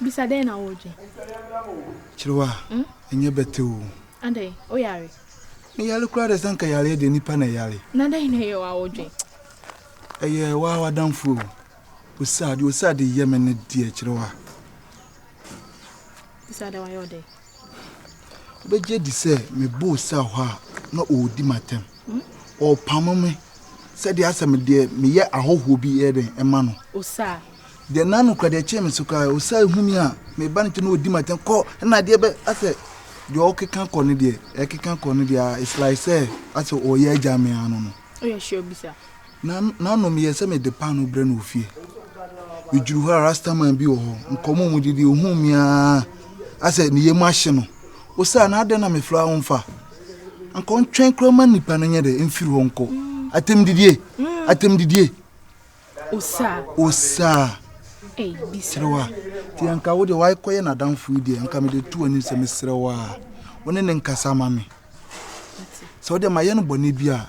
Bisa dɛn na woredwen? Kyerew a, ɛnyɛ bɛte oo. Adɛn, woyare? Meyare koraa dɛ, sɛ anka yareɛ deɛ nipa na ɛyare. Na dɛn na ɛyɛ wo a wodwen? Ɛyɛ wo ara w'adamfo o. Osa, deɛ Osa de yɛ me ne deɛ, Kyerew a. Bisa dɛ wayɛ wo dɛn? Wobɛgye adi sɛ meboo cell hɔ a na ɔredi m'atɛm. Ɔrepamo me sɛdeɛ asɛ me deɛ meyɛ ahɔhoɔ bi yɛ dɛn ɛma no. Osaa. Deɛ na nokora deɛ ɛkyee me so koraa Osaa ehu mi a meba ne nkyɛn na ɔredi m'atɛm kɔ ɛna adeɛ bɛ asɛ deɛ ɔrekeka kɔ ne deɛ ɛrekeka kɔ ne deɛ a it's like sɛ asɛ ɔreyɛ agya me ano no. Woyɛ sure bisa. Na nanom yɛ sɛ mede paanoo brɛ no wɔ fie. Medwuru hɔ a, Rastaman bi wɔ hɔ. Nkɔmmɔ a wɔdidi, ɔhuu me ara a sɛ ne yam ahye no. Ɔsaa, na adɛn na mefrɛ a womfa? Anka ɔntwɛn koraa ma nipa no nyɛ dɛ, mfiri hɔ nkɔ. Atɛmdidie! Atɛmdidie! Ɔsaa. Ɔsaa. Kyerɛ wo a, nti anka wo deɛ woakɔyɛ n'adamfo yi deɛ, anka mede to w'anim sɛ mesrɛ wo a, wo ne ne nkasa ma me. Sɛ wo deɛ mayɛ no bɔne bi a,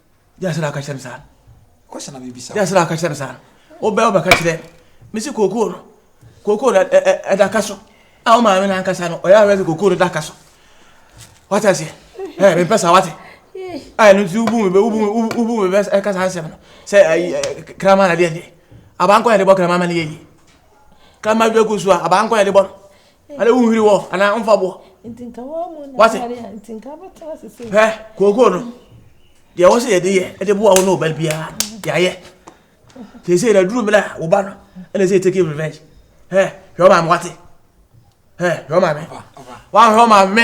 Gyina sɛ na aka kyerɛ me saa. Question na me bisa. Gyina sɛ na aka kyerɛ me saa. Wobɛ wobɛ ka kyerɛ. Me si kookoo no. Kookoo no ɛda ka so. A wo maame na ankasa no ɔyɛ awɛ sɛ kookoo no da ka so. Wate aseɛ? Ɛɛ mempɛ saa wate. A ɛno nti wobu me bɛ wobu me wobu me bɛ ɛka saa nsɛm no. Sɛ ayi kraman na deɛ deɛ. Abankɔ yɛ de bɔ kraman ma ne yɛ yi. Kraman dwa gu so a abankɔ yɛ de bɔ no. ɛna wo nhwiri wɔ anaa ɔmfa boɔ wase hɛ kookoo no deɛ wɔ sɛ yɛde yɛ ɛde boa wo ne ɔba biara yɛayɛ sɛ sɛ yɛda duru mmerɛ a woba no ɛna sɛ take revenge hɛ hwɛ ɔma me wate hɛ hwɛ ɔma me wahwɛ ɔma me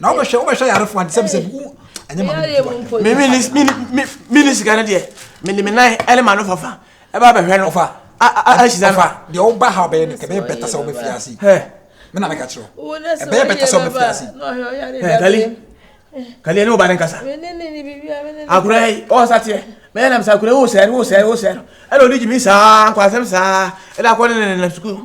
na wobɛhwɛ wobɛhwɛ yarefoɔ ante sɛ bisɛ wo ɛnyɛ ma mene sika no deɛ mede me nan ɛne ma no fafa ɛba bɛhwɛ no ɔfa ahyira fa deɛ woba ha wobɛyɛ no ɛbɛyɛ bɛta sɛ wobɛfi ase me na meka kyerɛ ɛbɛyɛ bɛta sɛ wobɛfi ase kali kali ɛne woba ne nkasa akora yi ɔsa teɛ mɛyɛ nam sɛ akora wo sɛre wo sɛre wo sɛre ɛna ɔde gyimi saa nkwasɛm saa ɛna akɔ ne nenenam sukuu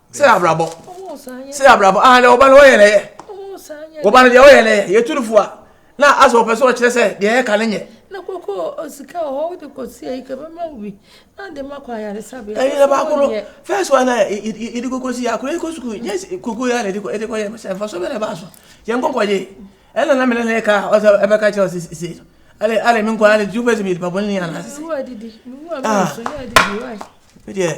sɛ abrabɔ sɛ abrabɔ ah deɛ ɔba no ɔyɛ na ɛyɛ ɔba no deɛ ɔyɛ na ɛyɛ yɛtu no fo a na asɛ ɔpɛ sɛ ɔkyerɛ sɛ deɛ ɛyɛ ka ne nyɛ. na koko osika wɔ hɔ wode kɔsi ayi ka bɛma wo bi na de ma kɔ ayaresabea ɛyɛ na baako no first one na yɛde koko si akora yɛkɔ sukuu nyɛ koko yɛ na ɛde kɔ yɛ sɛ mfa so bɛ na ɛbaa so yɛn kɔkɔ gye ɛna na mene ne ka ɔsɛ ɛbɛka kyerɛ ɔsɛ sisei no ale ale me nkɔ ale tu fɛ sɛ meyɛ nipa bɔne ne yɛ anaasese ah medeɛ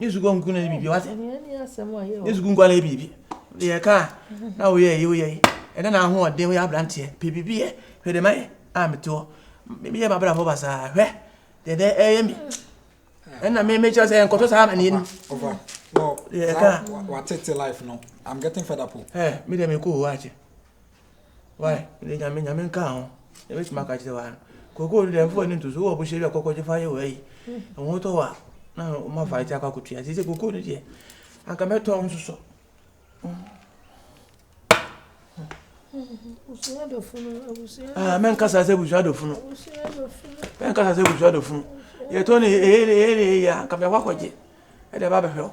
Nye suku nko na bibi wase. Nye suku nko na bibi. De yɛ ka na wo yɛ yi wo yɛ yi. Ɛna na ho ɔden wo yɛ abranteɛ. Pe bibi yɛ. Hwɛ de mai a meteɔ. Me yɛ mabra fo basa. Hwɛ. De de ɛyɛ mi. Ɛna me me kyerɛ sɛ nkɔtɔ saa ma ni. Ova. No. De yɛ ka. Wa tete life no. I'm getting fed up. Eh, me de me ko ho ache. Why? Mede Nyame, Nyame nka ho, na mɛtumi aka kyerɛ wa no. Koko no deɛ mfa w'ani nto so, wowɔ bohyɛ bi a kɔkɔgye fa yɛ wɔ ayi. Ɛho mm. tɔ wa na ɔma fa ɛte akɔ akɔtua. Sɛ sɛ koko no deɛ, anka mɛtɔ wo nsosɔ. Ah, mɛnkasa sɛ abusua adɔfo no. Mɛnkasa sɛ abusua adɔfo no. Yɛtɔ no ɛyɛ ne ɛyɛ ne ɛyɛ a, anka mɛkɔ akɔgye. Ɛde ɛba bɛhwɛ wo.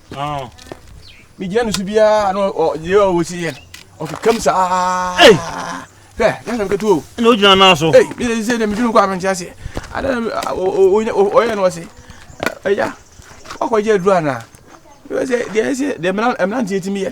Ah. Me dia no so bia no o ye o wo si ye. O ke kam sa. Hey. Ke, ya na ketu o. No jina na so. Hey, me se na me jinu kwa me ntia se. Ada o o o ye no se. Eh ya. Wa kwa je dru ana. Me se dia se de me na me na ntia ti me ye.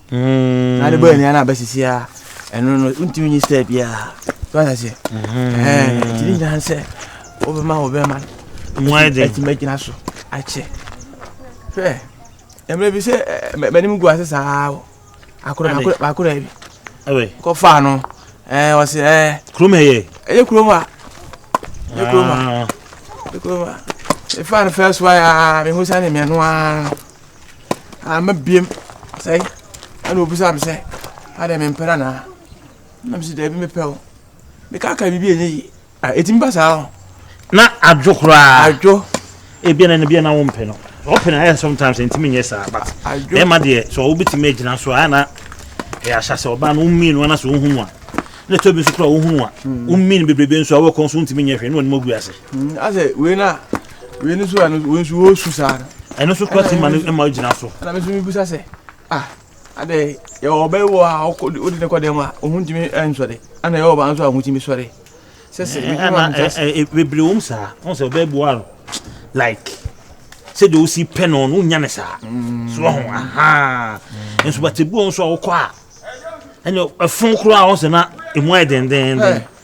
na ade bɛyɛ nea na abɛsisi a ɛno no wontumi nyi step biara so ayɛ sɛ nti ne nyinaa sɛ wobɛma wo bɛma no atumi agyina so akyɛ hwɛ mmerɛ bi sɛ m'anim gu ase saa akora bi kɔfaa no ɔsɛ kurom ɛyɛ ɛyɛ kurom a ɛyɛ kurom a ɛyɛ kurom a ɛfaa no fɛ so a mehu sɛ ne mmiɛno a Amma biom sɛe. Ɛna obisaa me sɛ, adɛn mempɛ no anaa? Na mese, daabi mepɛ o. Mekaakaa biribi a ɛnyɛ yie. Ah, ɛtumi ba saa o. Na adwo koraa. Adwo. Ebia na ebia na wompɛ no. Wɔpɛ no ayɛ sometimes ntumi nyɛ saa but bɛrima deɛ sɛ wobɛtumi agyina so a na ɛyɛ ahyɛ sɛ ɔbaa no wommii no ana sɛ wohunu a na ɛtɔ bi nso koraa wohunu a wommii no bebrebe nso a wɔkɔ nso wontumi nyɛ hwee na wɔnim agu ase. Asɛ wei na wei no so a wei nso wɔresu saa no. ɛno so kora ti ma no ma gyina so. ɛna me nso mebusa sɛ ah adɛ yɛwɔ ɔbɛ wɔ a wode ne kɔdɛm a ɔho ntumi nsɔre ana yɛwɔ ɔbaa nso a ɔho tumi sɔre bebree wɔm saa wɔn sɛ ɔbɛ boa no like sɛdeɛ wosi pɛ no no wonya ne saa mm. so ho aha nso batebuo nso a wokɔ a ɛne ɛfo koraa wɔn sɛ na ɛmu ayɛ dendenden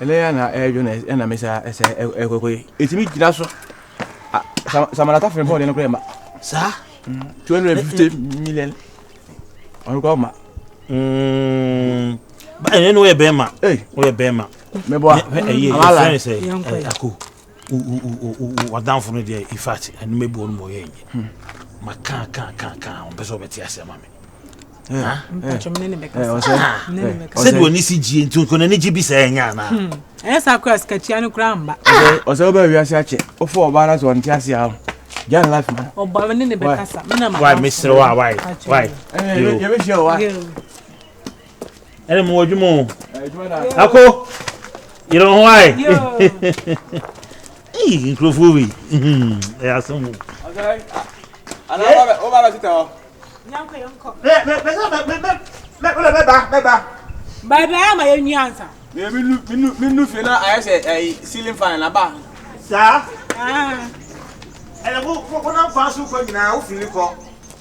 Ɛnɛ ya na ɛdwo na ɛna mesa ɛsɛ ɛkɔkɔ yi. Ɛtumi gyina so. Samana tafere bɔɔde no kora ma. Saa? 250 million. Ɔno kora ma. Ɛnɛ no woyɛ bɛrima. Woyɛ bɛrima. Mɛboa. Ɛyɛ ɛfɛn sɛ ɛko. W'adamfo no deɛ, in fact, ɛno mɛbu wɔn ma wɔyɛ nye. Hmm. Maka ka ka ka, wɔn pɛ sɛ wɔbɛte ase ama me. sɛde wɔn ani si gyie nti nkɔnɔ ani gye bi sɛ ɛnyɛ anaa. Hmm. ɛyɛ saa kura sikakyia no kura mba. ɔsɛ wobɛ wiase akyɛ wofa ɔbaa no sɛ ɔnte ase a Jan life man. Ọba mi ne ne bɛ kasa. Why, Mr. Why, why, why? Yẹ bẹ ṣe ọ wa. ɛne mo adwuma o ako yere ho ae nkurɔfoɔ wei ɛyɛ asɛm o baabi ayɛ ma yɛnwi ansa menu fie na ayɛ sɛ ceiling fan na ba saa ɛnɛ wonam kwan so kɔ nyinaa wofiri kɔ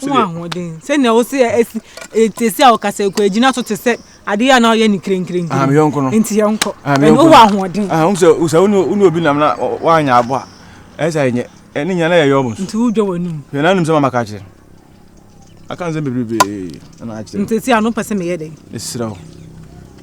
ho ahoɔden sɛnea wo sɛ ɛsi ɛtesi a ɔkasa ɛkɔ agyina so te sɛ adeɛ a na ɔyɛ ne kirenkirenti ah, nti yɛnkɔ ah, ɛne wowɔ ahoɔden ah, sɛ wone obi nam na woanyɛ abɔ a ɛyɛ sɛ ɛnyɛ ɛne nyina na yɛyɛ ɔmo so nti wodwa w'anom hwɛ na anom sɛ mamaka kyerɛ aka nsɛm bebrebe na akyerɛ ntɛsi a no pɛ sɛ meyɛ dɛn ɛserɛ wo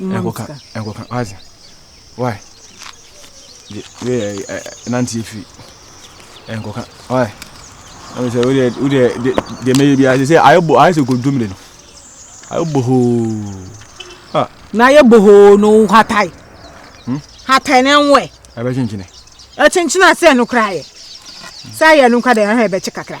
mma me sika. Ɛnkɔka, ɛnkɔka, wate? Why? Gye, wei yɛ, ɛ, nante afiri. Ɛnkɔka, why? Na me sɛ, wo deɛ, wo deɛ, deɛ, deɛ mɛyɛ bi ase sɛ, ayɛ bo, ayɛ sɛ kɔdwom de no. Ayɛ bohoo. Ah. Na ayɛ bohoo no, hatae. Hmm? Hatae na ɛnwɛ. Ɛbɛkyenkyene. Ɛkyenkyene a sɛ ɛno koraa yɛ. Sɛ ayɛ no nka dɛ, ɛhɛ ɛbɛkye kakra.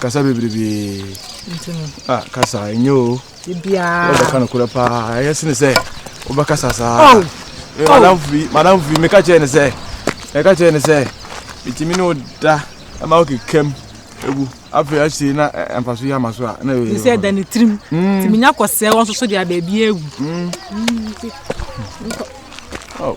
kasa bebrebe ah kasa enye o wobɛka no korɛ paa ɛyɛ sene sɛ wobɛkasa saa oh. eh, oh. madam firi madam firi meka kyerɛ ne sɛ meka kyerɛ ne sɛ metumi ne wo da ma wo kekam ɛgu afei ahyei na eh, mfa so yɛ ama so a na ɛyɛ sɛ da ne tirim nti hmm. menya kɔsɛɛ wɔ nso so deɛ baabi agu hmm. hmm, oh.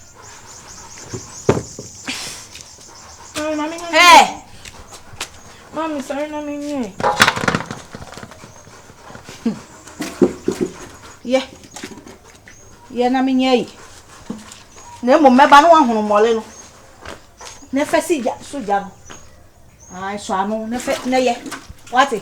Hey! Mami, sorry na me nye. Ye. Ye na me nye yi. Na mo meba no ahunu mole no. Na fa si ja so ja no. Ai so ano na fa na ye. Wate?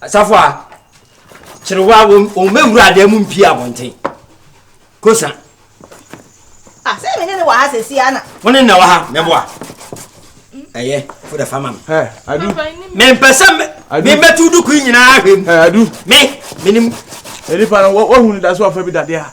Asafo a, kyerewa wɔn mmɛwura adan mu mpie abɔnten. Kosa. Ah, sɛ me ne ne wɔ ha sɛsi ana. Wo ne na wɔ ha, mɛboa. Ɛyɛ, fo da fa ma me. Ɛ, adu. Mempɛ sɛ mebɛtu duku nyinaa ahwɛ mu. Ɛ, adu. Me, menim. Nipa no, wahu no da so ɔfa bi dadeɛ a.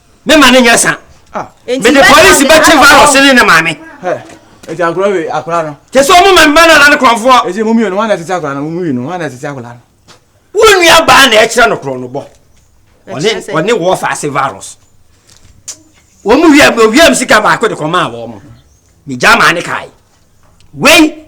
Me ma ne nyɛ sa. Ah. Me de police bɛ kye virus ne ne maame. Eti akora we akora no. Te sɛ ɔmo ma mma na ne korɔnfoɔ. Eti mo mmienu hwana tete akora no mo mmienu hwana tete akora no. Wo nua baa na ɛkyerɛ no korɔ no bɔ. Ɔne ɔne wɔ fa ase virus. Wɔn mu wia wia mu sika baako de kɔmaa wɔn mo. Me gya maa ne kae. Wei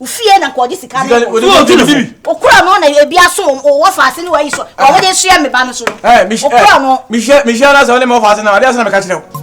ofie na nkɔgye sika no okura no na ebi aso wɔ faase ne wayi so wɔn ah. de soa me ba no so no eh, okura eh, no. mehyia mehyia na sɛ ɔne ma wɔ faase na ade asɛ na meka kyerɛ wo.